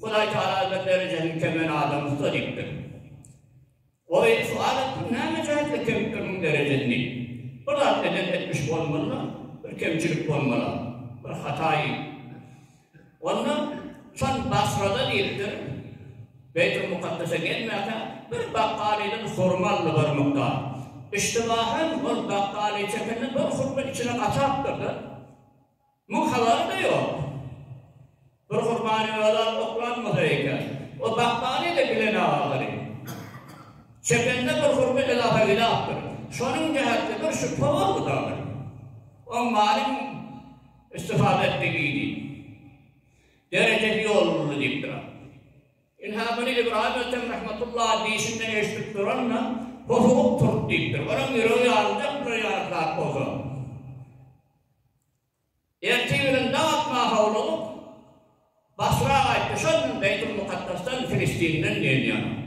Hudaý Tagala bir derejäniň kemini adam ussat etdi. Ol indi sual etdi, Näme jähtde kemipdir muň derejesini? Bir zat eden etmiş bolmaly-la, bir kemçilik bolmaly-a, bir hataýy. Onda şon Basrada diýipdir, Beýtul Mukaddese gelmäkä bir bakgalydan hurma aldy bir mukdar. Iştibahan ol bakgaly çekende bir hurma içine gaçapdyr-da, Muň halalmy ýok? Bir gurbany özal oklan bolsa eken, o bakmany ýa-da bilen agalary. Çepende bir hurma ilafa ilapdyr. Şonuň jähetli bir şübhe boldy dagy. Oň malyň istifada etmegini derejesi ýolunly diýip duran. Ynha, muny Ybraýym Ötem rahmetullaha diýşinden eşidip duran-da, hosugyp turup diýipdir. Onuň ýüregi ýaryljakdyr ýaly zat bolsa. Ertir bilen dag atmaga howlugyp, Basra gaýtdy. Şol gün Beýtulmukaddasdan, Filistinden gelýän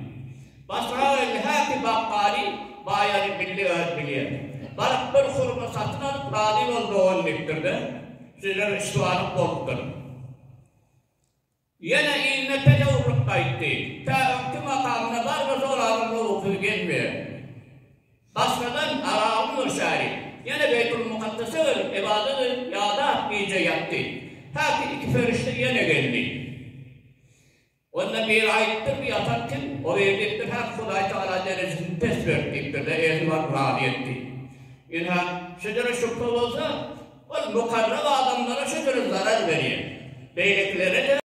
basrageldi Häki Bakgaly baýaly bildi, öz bilýär. Baryp bir hurma satyn alyp, razy bol dogan diýipdir-de, sizler üç sanyk bolupdyr. Ýene ilme pele urup gaýtdy. Tä öňki makamyna barba jorabyň gowusyz gelmeýär. Başgadan aragyň mürşäri ýene Beýtulmukaddese gelip ybadat edip ýadap gije ýatdy. Häki iki perişde ýene geldi. Onda biri aýdypdyr bu ýatan kim? O biri diýipdir häk Hudaý Tagala derejesini pes berdi diýipdirde erni baryp razy etdi. Ynha şejere şübhe bolsa ol mukarrap adamlara şejere zarar berýär. Beýlekilere-de